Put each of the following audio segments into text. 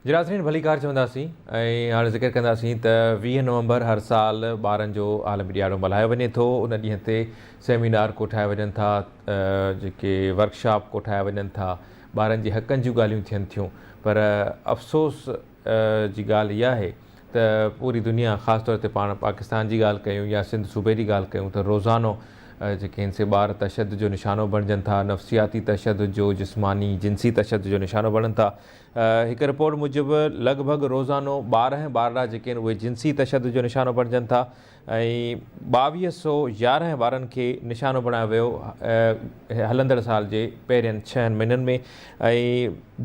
جي ناظرين ڀليڪار چونداسين ۽ هاڻي ذڪر ڪنداسين ته ويهه نومبر هر سال ٻارن جو عالمي ڏياڙو ملهايو وڃي ٿو ان ڏينهن تي سيمينار ڪوٺايا وڃن ٿا جيڪي ورڪشاپ ڪوٺايا وڃن ٿا ٻارن جي حقن جون ڳالهيون ٿين ٿيون پر افسوس جي ڳالهه اها آهي ته پوري دنيا خاص طور تي پاڻ پاڪستان جي ڳالهه ڪيون يا سنڌ صوبي جي ڳالهه ڪيون ته روزانو جيڪي هن سي ٻار تشدد جو نشانو بڻجن ٿا نفسياتي تشدد جو جسماني جنسي تشدد جو نشانو بڻن ٿا هڪ رپورٽ موجب لڳ ڀڳ روزانو ٻارهن ٻارڙا جيڪي آهن اهي جنسي تشدد جو نشانو بڻجن ٿا ۽ ٻاويهه سو يارهن ٻارن کي نشانو بڻايو ويو هلندڙ سال جي پهرين ڇهن مهينن ۾ ۽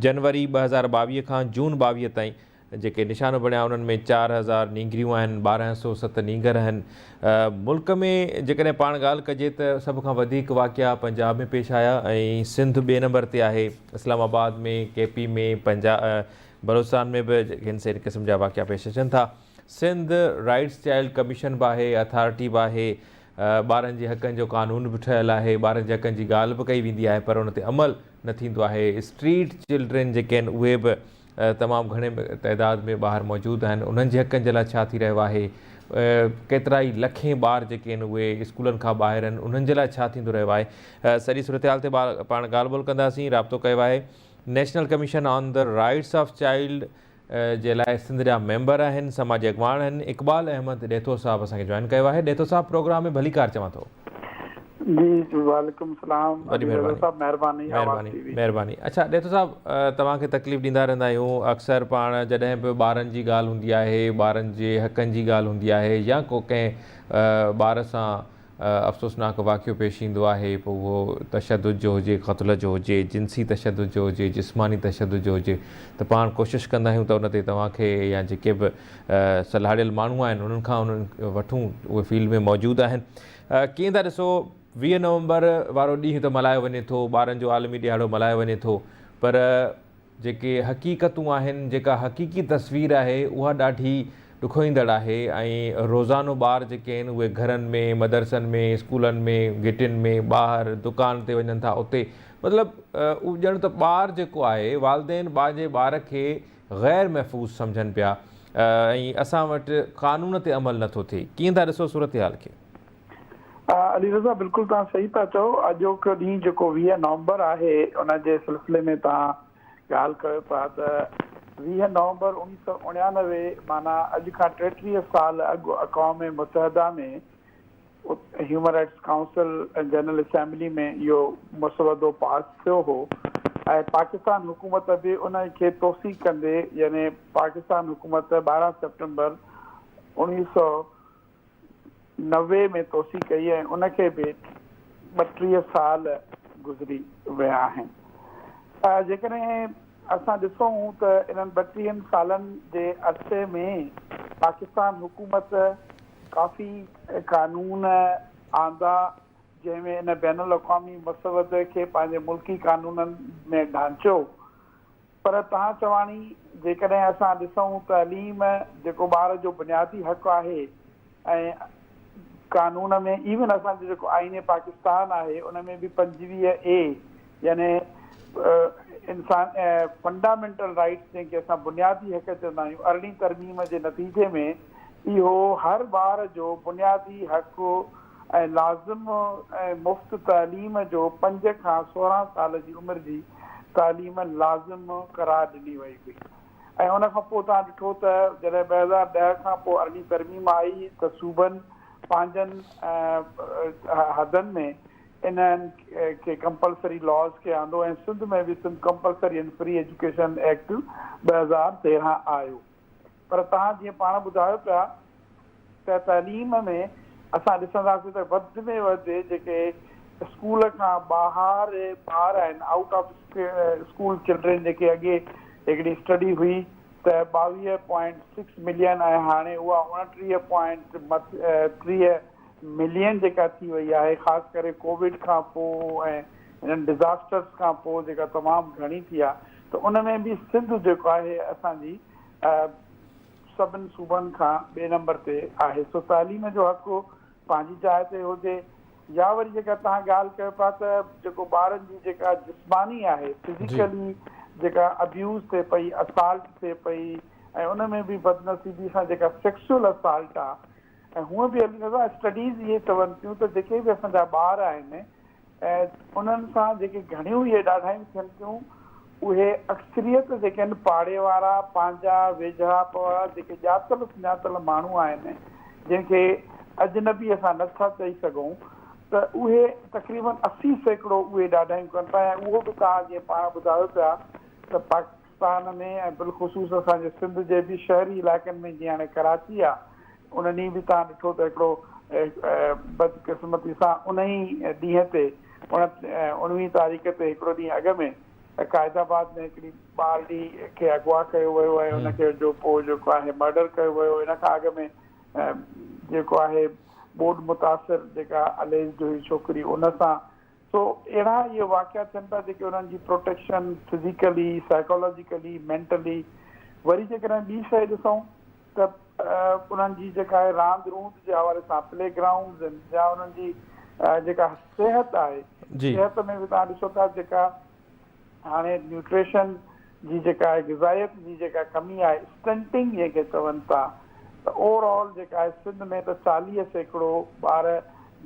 جنوري ٻه هزار ٻاويهه کان جون ٻاويهه تائين جيڪي نشانو بڻيا انهن ۾ چار هزار نينگريون آهن، ٻارهن سئو ست نينگر آهن. ملڪ ۾ جيڪڏهن پاڻ ڳالهه ڪجي ته سڀ کان وڌيڪ واقعا پنجاب ۾ پيش آيا ۽ سنڌ ٻئي نمبر تي آهي. اسلام آباد ۾ ڪي پي ۾ پنجاب بلوچستان ۾ به هن سين قسم جا واقعا پيش اچن ٿا. سنڌ رائيٽس چائلڊ ڪميشن به آهي، اٿارٽي به آهي، ٻارن جي حقن جو قانون به ٺهيل آهي، ٻارن جي حقن جي ڳالهه به ڪئي ويندي آهي پر ان تي عمل نه ٿيندو آهي. اسٽريٽ چلڊرين جيڪي آهن اهي به تمام گهڻي تعداد ۾ ٻاهر موجود آهن انهن جي حقن جي لاء ڇا ٿي رهيو آهي ڪيترائي لکين ٻار جيڪي آهن اهي اسڪولن کان ٻاهر آهن انهن جي لاء ڇا ٿيندو رهيو آهي سڄي صورتحال تي پاڻ ڳالهه ٻولهه ڪنداسين رابطو ڪيو آهي national commission on the rights of child جي لاء سنڌ جا ميمبر آهن سماجي اڳواڻ آهن اقبال احمد ڏيٿو صاحب اسان کي جوائن ڪيو آهي ڏيٿو صاحب پروگرام ۾ ڀليڪار چوان ٿو جي جي وعليڪم السلام وڏي علي رضا مھرباني صاحب مھرباني آواز مھرباني ٽي وي مھرباني اڇا ڏيتو صاحب توھان کي تڪليف ڏيندا رھندا آھيون اڪثر پاڻ جڏھن به ٻارن جي ڳالھ ھوندي آھي ٻارن جي حقن جي ڳالھ ھوندي آھي يا ڪو ڪنھن ٻار سان افسوسناڪ واقعو پيش ايندو آھي پوء اھو تشدد جو ھجي قتل جو ھجي جنسي تشدد جو ھجي جسماني تشدد جو ھجي ته پاڻ ڪوشش ڪندا آھيون ته ان تي توھان کي يا جيڪي به سلهاڙيل ماڻهو آهن انهن کان انهن وٺون اهي فيلڊ ۾ موجود آهن ڪيئن ٿا ڏسو ويهه نومبر وارو ڏينهن ته ملهايو وڃي ٿو ٻارن جو عالمي ڏيهاڙو ملهايو وڃي ٿو پر جيڪي حقيقتون آهن جيڪا حقيقي تصوير آهي اها ڏاڍي ڏکوئيندڙ آهي ۽ روزانو ٻار جيڪي آهن اهي گهرن ۾ مدرسن ۾ اسڪولن ۾ گهٽين ۾ ٻاهر دڪان تي وڃن ٿا اتي مطلب ڄڻ ته ٻار جيڪو آهي والدين پنهنجي ٻار کي غير محفوظ سمجهن پيا ۽ اسان وٽ قانون تي عمل نه ٿو ٿئي ڪيئن ٿا ڏسو صورتحال کي؟ علي رضا بلڪل توهان صحيح پيا چئو اڄوڪو ڏينهن جيڪو ويهه نومبر آهي ان جي سلسلي ۾ توهان ڳالهه ڪيو پيا ته ويهه نومبر اوڻيهه سؤ اڻيانوي معنيٰ اڄ کان ٽيٽيهه سال اڳ اقوام متحده ۾ human rights council ۽ general assembly ۾ اهو مسودو پاس ٿيو هو ۽ پاڪستان حڪومت به ان کي توثيق ڪندي يعني پاڪستان حڪومت ٻارهن سيپٽمبر اوڻيهه سؤ نوي ۾ توثيق ڪئي ۽ ان کي به ٻٽيهه سال گذري ويا آهن جيڪڏهن اسان ڏسون ته انهن ٻٽيهن سالن جي عرصي ۾ پاڪستان حڪومت ڪافي قانون آندا جنهن ۾ ان بين الاقوامي مسودي کي پنهنجي ملڪي قانونن ۾ ڍانچيو پر تان چواڻي جيڪڏهن اسان ڏسون تعليم جيڪو ٻار جو بنيادي حق آهي ۽ قانون ۾ ايون اسان جو جيڪو آئين پاڪستان آهي ان ۾ به پنجويهه اي يعني انسان فنڊامينٽل رائيٽس جنهن کي اسان بنيادي حق چوندا آهيون ارڙهين ترميم جي نتيجي ۾ اهو هر ٻار جو بنيادي حق ۽ لازم ۽ مفت تعليم جو پنج کان سورهن سال جي عمر جي تعليم لازم قرار ڏني وئي هئي ۽ ان کان پوء توهان ڏٺو ته جڏهن ٻه هزار ڏهه کان پوء ارڙهين ترميم آئي ته صوبن پنهنجن حدن ۾ انهن کي ڪمپلسري لاز کي آندو ۽ سنڌ ۾ به Sindh compulsory and free education act ٻه هزار تيرهن آيو پر توهان جيئن پاڻ ٻڌايو پيا ته تعليم ۾ اسان ڏسنداسين ته وڌ ۾ وڌ جيڪي اسڪول کان ٻاهر ٻار آهن آئوٽ آف اسڪول چلڊرين جيڪي اڳي هڪڙي اسٽڊي هئي ته ٻاويهه پوائنٽ سڪس ملين ۽ هاڻي اها اوڻٽيهه پوائنٽ ٽيهه ملين جيڪا ٿي وئي آهي خاص ڪري ڪووڊ کان پوء ۽ انهن ڊزاسٽرز کان پوء جيڪا تمام گهڻي ٿي آهي ته ان ۾ به سنڌ جيڪو آهي اسان جي سڀن صوبن کان ٻئي نمبر تي آهي سو تعليم جو حق پنهنجي جاء تي هجي يا وري جيڪا توهان ڳالهه ڪيو پيا ته جيڪو ٻارن جي جيڪا جسماني آهي فزيڪلي جيڪا ابيوز ٿئي پئي اسالٽ ٿئي پئي ۽ ان ۾ به بدنصيبي سان جيڪا سيڪسول اسالٽ آهي ۽ هونء به علي رضا اسٽڊيز اهي چون ٿيون ته جيڪي به اسان جا ٻار آهن انهن سان جيڪي گهڻيون اهي ڏاڍايون ٿين ٿيون اهي اڪثريت جيڪي آهن پاڙي وارا پنهنجا ويجهڙائپ وارا جيڪي ڄاتل سڃاتل ماڻهو آهن جن کي اجنبي اسان نه ٿا چئي سگهون ته اهي تقريبن اسي سيڪڙو اهي ڏاڍايون ڪن ٿا ۽ اهو به توهان جيئن پاڻ ٻڌايو پيا ته پاڪستان ۾ ۽ بالخصوص اسان جي سنڌ جي به شهري علائقن ۾ جيئن هاڻي ڪراچي آ ان ڏينهن به توهان ڏٺو ته هڪڙو بدقسمتي سان ان ئي ڏينهن تي اڻويهين تاريخ تي هڪڙو ڏينهن اڳ ۾ قائد آباد ۾ هڪڙي ٻارڙي کي اغوا ڪيو ويو ۽ ان کي جو پوء جيڪو آهي مرڊر ڪيو ويو ان کان اڳ ۾ جيڪو آهي ٻوڏ متاثر جيڪا اليجڊ هئي ڇوڪري ان سان سو اهڙا اهي واقعا ٿين پيا جيڪي انهن جي پروٽيڪشن فزيڪلي، سائيڪالاجيڪلي، مينٽلي وري جيڪڏهن ٻي شيء ڏسون ته انهن جي جيڪا آهي راند روند جي حوالي سان پلي گرائونڊز آهن يا انهن جي جيڪا صحت آهي صحت ۾ به تهان ڏسو ٿا جيڪا هاڻي نيوٽريشن جي جيڪا آهي غذائيت جي جيڪا ڪمي آهي اسٽنٽنگ جنهن کي چون ٿا ته اوور آل جيڪا آهي سنڌ ۾ ته چاليهه سيڪڙو ٻار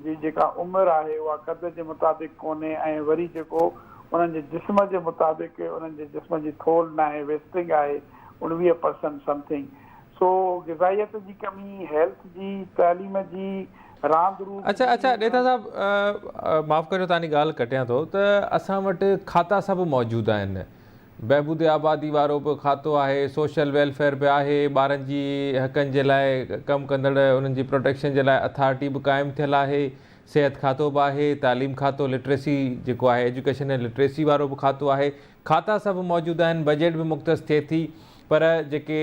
جي جيڪا عمر آهي اها قد جي مطابق ڪونهي ۽ وري جيڪو انهن جي جسم جي مطابق انهن جي جسم جي ٿولھ ناهي ويسٽنگ آهي اڻويهه پرسنٽ سمٿنگ سو غذائيت جي ڪمي هيلٿ جي تعليم جي راند روز اچا اچا ڏيٿا صاحب معاف ڪريو تاني ڳالهه ڪٽيان ٿو ته اسان وٽ کاتا سڀ موجود آهن بهبود آبادي وارو به کاتو آهي سوشل ويلفيئر به آهي ٻارن جي حقن جي لاء ڪم ڪندڙ انهن جي پروٽيڪشن جي لاء اٿارٽي به قائم ٿيل آهي صحت کاتو به آهي تعليم کاتو لٽريسي جيڪو آهي ايجوڪيشن ۽ لٽريسي وارو به کاتو آهي کاتا سڀ موجود آهن بجيٽ به مختص ٿئي ٿي پر جيڪي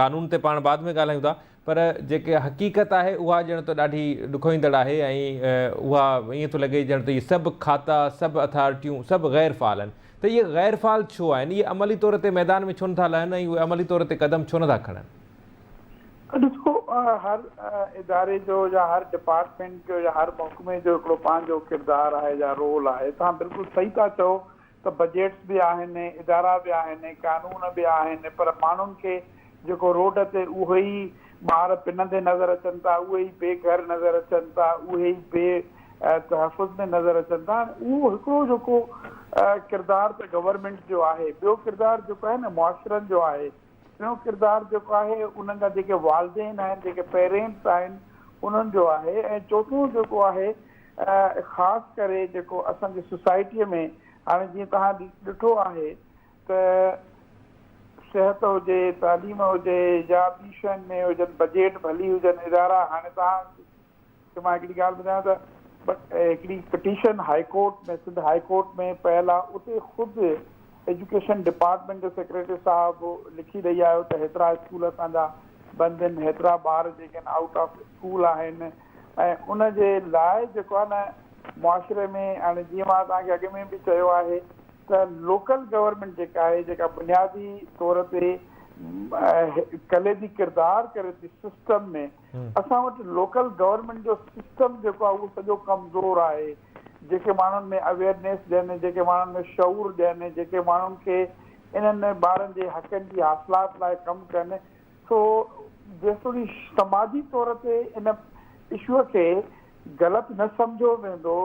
قانون تي پاڻ بعد ۾ ڳالهايون ٿا پر جيڪي حقيقت آهي اها ڄڻ ته ڏاڍي ڏکوئيندڙ آهي ۽ اها ائين ٿو لڳي ڄڻ ته اهي سڀ کاتا، سڀ اٿارٽيون، سڀ غير فعال آهن. ته اهي غير فعال ڇو آهن؟ اهي عملي طور تي ميدان ۾ ڇو نٿا لهن ۽ اهي عملي طور تي قدم ڇو نٿا کڻن؟ ڏسو هر اداري جو يا هر ڊپارٽمينٽ جو يا هر محڪمي جو هڪڙو پنهنجو ڪردار آهي يا رول آهي. توهان بلڪل صحيح ٿا چئو ته بجيٽس به آهن، ادارا به آهن، قانون به آهن پر ماڻهن کي جيڪو روڊ تي اهي ئي ٻار پنندي نظر اچن ٿا، اهي ئي بي گهر نظر اچن ٿا، اهي ئي بي تحفظ ۾ نظر اچن ٿا. هاڻي اهو هڪڙو جيڪو ڪردار ته گورنمينٽ جو آهي، ٻيو ڪردار جيڪو آهي نه معاشرن جو آهي. ٽيون ڪردار جيڪو آهي انهن جا جيڪي والدين آهن جيڪي پيرينٽس آهن انهن جو آهي ۽ چوٿون جيڪو آهي خاص ڪري جيڪو اسان جي سوسائٽي ۾ هاڻي جيئن توهان ڏٺو آهي ته صحت هجي تعليم هجي يا ٻي شين ۾ هجن بجيٽ ڀلي هجن ادارا هاڻي توهان ته مان هڪڙي ڳالهه ٻڌايان ته هڪڙي petition high court ۾ Sindh high court ۾ پيل آ اتي خود ايجوڪيشن ڊپارٽمينٽ جو سيڪريٽري صاحب لکي ڏئي آيو ته هيترا اسڪول اسان جا بند ان هيترا ٻار جيڪي ان آئوٽ آف اسڪول آهن ۽ ان جي لاء جيڪو آ نه معاشري ۾ هاڻي جيئن مان توهان کي اڳ ۾ به چيو آهي ته لوڪل گورنمينٽ جيڪا آهي جيڪا بنيادي طور تي ڪليدي ڪردار ڪري ٿي سسٽم ۾ اسان وٽ لوڪل گورنمينٽ جو سسٽم جيڪو آهي اهو سڄو ڪمزور آهي، جيڪي ماڻهن ۾ اويئرنيس ڏين، جيڪي ماڻهن ۾ شعور ڏين، جيڪي ماڻهن کي انهن ٻارن جي حقن جي حاصلات لاء ڪم ڪن، سو جيستوڻي سماجي طور تي ان اشوء کي غلط نه سمجهيو ويندو،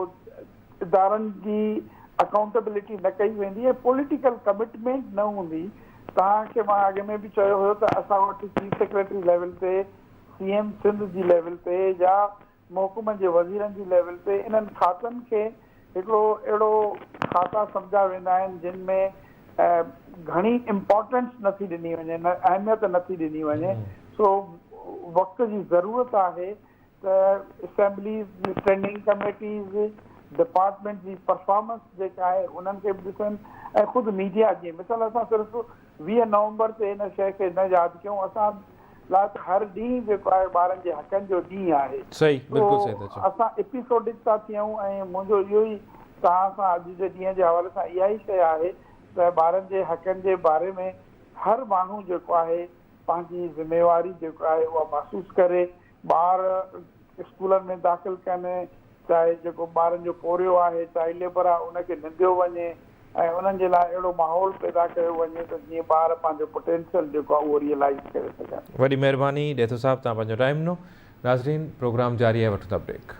ادارن جي اڪائونٽيبلٽي نه ڪئي ويندي ۽ پوليٽيڪل ڪمٽمينٽ نه هوندي، توهان کي مان اڳ ۾ به چيو هيو ته اسان وٽ چيف سيڪريٽري ليول تي، سي ايم سنڌ جي ليول تي يا محڪمن جي وزيرن جي ليول تي انهن کاتن کي هڪڙو اهڙو کاتا سمجهيا ويندا آهن جن ۾ گهڻي امپارٽنس نه ٿي ڏني وڃي نه اهميت نه ٿي ڏني وڃي سو وقت جي ضرورت آهي ته اسيمبليز، اسٽينڊنگ ڪميٽيز، ڊپارٽمينٽ جي پرفارمنس جيڪا آهي انهن کي به ڏسن ۽ خود ميڊيا جي مثال اسان صرف ويهه نومبر تي ان شيء کي نه ياد ڪيون اسان لاء ته هر ڏينهن جيڪو آهي ٻارن جي حقن جو ڏينهن آهي صحيح سو بلڪل صحيح ٿا چئو. اسان ايپيسوڊڪ ٿا ٿيون ۽ منهنجو اهو ئي توهان سان اڄ جي ڏينهن جي حوالي سان اها ئي شيء آهي ته ٻارن جي حقن جي باري ۾ هر ماڻهو جيڪو آهي پنهنجي ذميواري جيڪو آهي اها محسوس ڪري ٻار اسڪولن ۾ داخل ڪن، چاهي جيڪو ٻارن جو پورهيو آهي، چائلڊ ليبر آهي، ان کي ننديو وڃي ۽ انهن جي لاء اهڙو ماحول پيدا ڪيو وڃي ته جيئن ٻار پنهنجو پوٽينشل جيڪو آهي اهو ريئلائيز ڪري سگهن. وڏي مهرباني ڏيٿو صاحب توهان پنهنجو ٽائيم ڏنو. ناظرين پروگرام جاري آهي وٺون ٿا بريڪ.